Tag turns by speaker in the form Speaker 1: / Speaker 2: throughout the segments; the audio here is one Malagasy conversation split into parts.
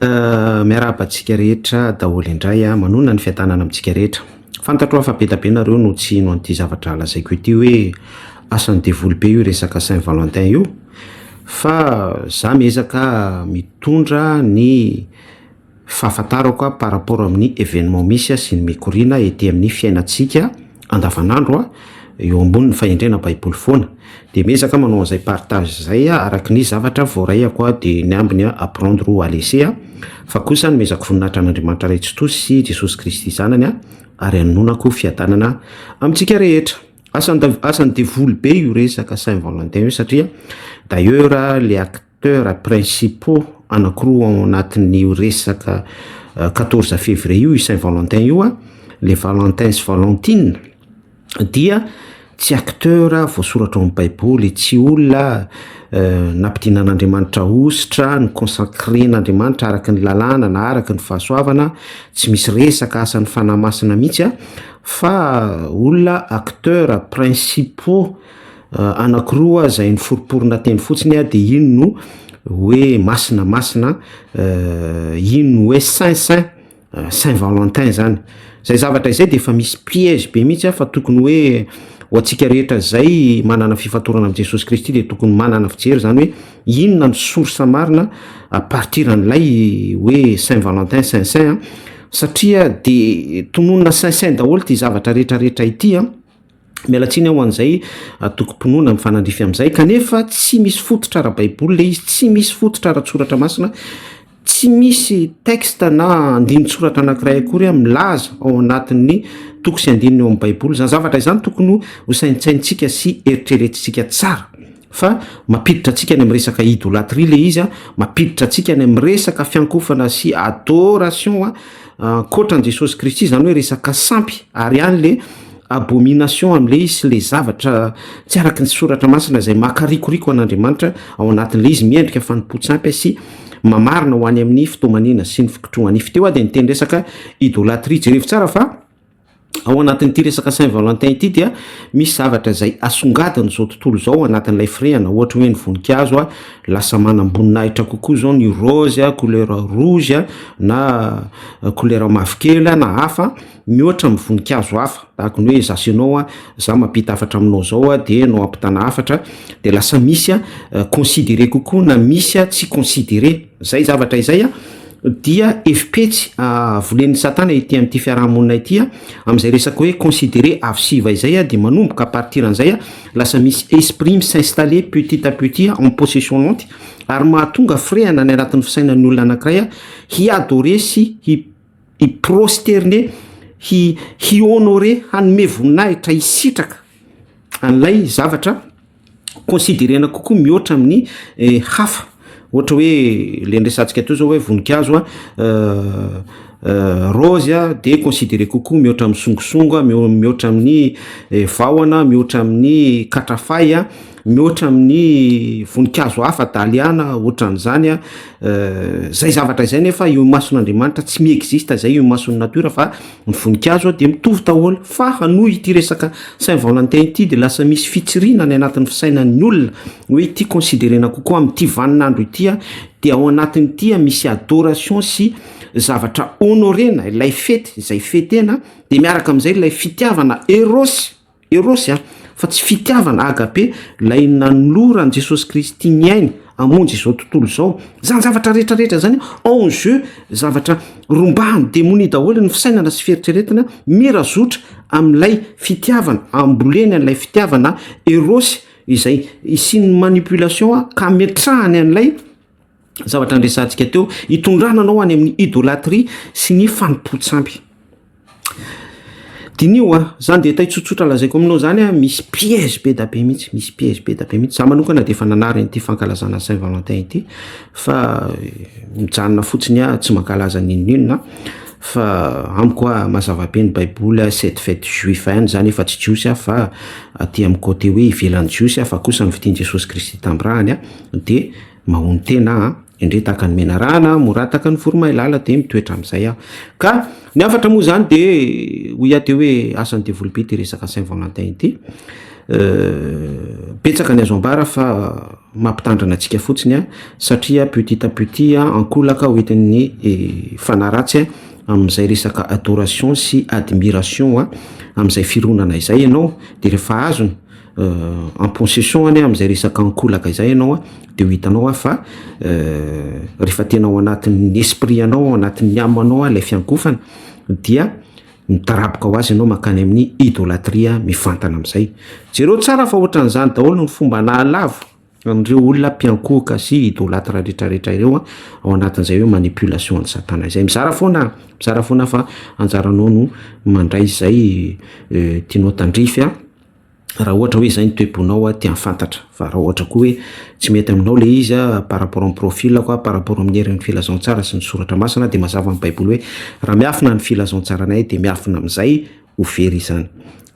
Speaker 1: Euh, miarahaba antsika rehetra daholo indray a, ah. manonona ny fiadanana amintsika rehetra. Fantatro aho fa be da be nareo no tsy hino an'ity zavatra lazaiko ity hoe asan'ny devoly be io resaka Saint Valentin io, fa za miezaka mitondra ny fahafantarako par rapport amin'ny événement misy sy ny mikoriana ety amin'ny fiainantsika andavanandro a, eo ambonin'ny fahendrena baiboly foana, dia miezaka manao an'izay partage izay a, araky ny zavatra voaraiako a, dia ny ambiny a apprendre ou à laisser a, fa kosa ny miezaka voninahitra an'Andriamanitra Ray Tsitoha sy Jesosy Kristy Zanany a, ary anononako fiadanana amintsika rehetra. Asan'ny asan'ny devoly be io resaka Saint Valentin io satria d'ailleurs le acteurs principaux anakiroa ao anatin'io resaka quatorze février io, io Saint Valentin io an, le Valentin sy Valentine dia tsy acteur voasoratra ao amin'ny baiboly, tsy olona nampidinan'Andriamanitra hosotra, no consacren'Andriamanitra araka ny lalàna na araka ny fahasoavana, tsy misy resaka asan'ny fanahy masina mihitsy an, fa olona acteurs principaux. anakiroa izay niforiporona teny fotsiny a, dia iny no hoe masina masina, iny no hoe saint saint, saint valentin zany, zay zavatra izay dia efa misy piège be mihitsy a, fa tokony hoe ho antsika rehetra izay manana fifantorana amin'i Jesosy Kristy dia tokony manana fijery zany hoe inona no source marina à partir an'ilay hoe saint valentin saint saint an, satria dia tononina saint saint daholo ity zavatra rehetra rehetra ity an. Miala tsiny aho ho an'izay atokom-pinoana mifanandrify amin'izay, kanefa tsy misy fototra ara-baiboly ilay izy, tsy misy fototra ara-tsoratra masina, tsy misy texte na andinin-tsoratra anankiray akory milaza ao anatin'ny toko sy andininy ao amin'ny baiboly izany. Zavatra izany tokony ho saintsaintsika sy eritreretintsika tsara. fa mampiditra antsika any amin'ny resaka idolatrie le izy a mampiditra antsika any amin'ny resaka fiankofana sy adoration a ankoatra an'i jesosy kristy zany hoe resaka sampy ary any le abomination am'le izy sy le zavatra tsy araky ny soratra masina izay makarikoriko an'andriamanitra ao anatin'le izy miendrika fanompoan-tsampy a sy mamarina ho any amin'ny fitomanina sy ny fikotrohanify teo a dia niteny resaka idolatrie jerevo tsara fa ao anatin'ity resaka Saint Valentin ity dia misy zavatra izay asongadiny izao tontolo izao anatin'ilay firehana ohatra hoe ny voninkazo a lasa manam-boninahitra kokoa izao ny rose a couleur rouge a na euh, couleur mavokely a na hafa mihoatra amin'ny voninkazo hafa tahaka ny hoe za sy ianao a za mampita hafatra aminao izao a dia nao ampitana hafatra dia lasa misy a euh, considéré kokoa na misy a tsy considéré Izay zavatra izay dia efi-petsy volen'i Satana ety amin'ity fiaraha-monina ity, amin'izay resaka hoe considérer avo sy iva izay dia manomboka à partir an'izay lasa misy esprit mi-s'installer petit à petit en possession lente ary mahatonga firehana any anatin'ny fisainan'ny olona anankiray hi-adorer sy hi-prosterner, hi-honorer, hanome voninahitra, hisitraka an'ilay zavatra. considerena kokoa mihoatra amin'ny hafa ohatra hoe le niresantsika teo zao hoe voninkazo a rose a de considere kokoa mihoatra amin'ny songosongo a mihao- mihoatra amin'ny eh, vahona mihoatra amin'ny katrafay a mihoatra amin'ny voninkazo hafa daliana ohatran'izany a Eh, zay zavatra izay nefa eo imason'andriamanitra tsy mi-exista izay eo imason'ny natiora fa Ny voninkazo dia mitovy daholo fa noho ity resaka Saint Valentin ity dia lasa misy fitsiriana any anatin'ny fisainan'ny olona hoe ity considerena kokoa amin'ity vanin'andro ity dia ao anatin'ity misy adoration sy zavatra honorena ilay fety izay fetena dia miaraka amin'izay ilay fitiavana eros Erôsy a, fa tsy fitiavana, agape, lay nanoloran Jesosy Kristy ny ainy hamonjy izao tontolo izao. Zany zavatra rehetra rehetra zany en jeu zavatra rombahan'ny demonia daholo ny fisainana sy fieritreretana mirazotra amin'ilay fitiavana, amboleny an'ilay fitiavana erôsy izay isian'ny manipulation ka ametrahany an'ilay. zavatra andresantsika teo hitondrana anao any amin'ny idolatria sy ny fanompoan-tsampy. Diniho a, zany dia tay tsotsotra lazaiko aminao zany a, misy piège be da be mihitsy, misy piège be da be mihitsy. Za manokana dia efa nanary an'ity fankalazana Saint Valentin ity fa mijanona fotsiny aho tsy mankalaza n'inon'inona fa amiko a mazava be ny baiboly a, cette fête juif ihany zany efa tsy jiosy aho fa aty amin'ny côté hoe ivelan'ny jiosy aho fa kosa ny vidin'i Jesosy Kristy tamin'ny ràny a, dia. Mahony tena an! Indreo tahaka ny menarana an! Mora tahaka ny voromailala dia mitoetra amin'izay aho. Ka ny hafatra moa izany dia hoy aho teo hoe asan'ny devoly be ity resaka Saint Valentin ity. Betsaka ny azo ambara fa mampitandrina antsika fotsiny an! Satria petit à petit an! Ankolaka ho entin'ny fanahy ratsy an! Amin'izay resaka adoration sy admiration an! Amin'izay fironana izay ianao dia rehefa azony. en possession anie amin'izay resaka ankolaka izay ianao an, dia ho hitanao fa rehefa tena ao anatin'ny esprit anao, ao anatin'ny âme anao ilay fiankohofana dia mitaraboka ho azy ianao mankany amin'ny idolatria mivantana amin'izay. Jereo tsara fa ohatran'izany daholo ny fomba nahalavo an'ireo olona mpiankohoka sy idolatra retraretra ireo an, ao anatin'izay hoe manipulation an'i satana izay. Mizara foana an, mizara foana fa anjaranao no mandray izay tianao tandrify an. raha ohatra hoe izay ny toe-ponao aho tian fantatra fa raha ohatra koa hoe tsy mety aminao ilay izy par rapport amin'ny profil ako par rapport amin'ny herin'ny filazantsara sy ny soratra masina dia mazava amin'ny baiboly hoe raha miafina ny filazantsaranay dia miafina amin'izay ho very izany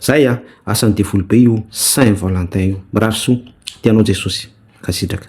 Speaker 1: zay an asan'ny devoly be io saint valentin io mirary soa tianao jesosy mankasitraka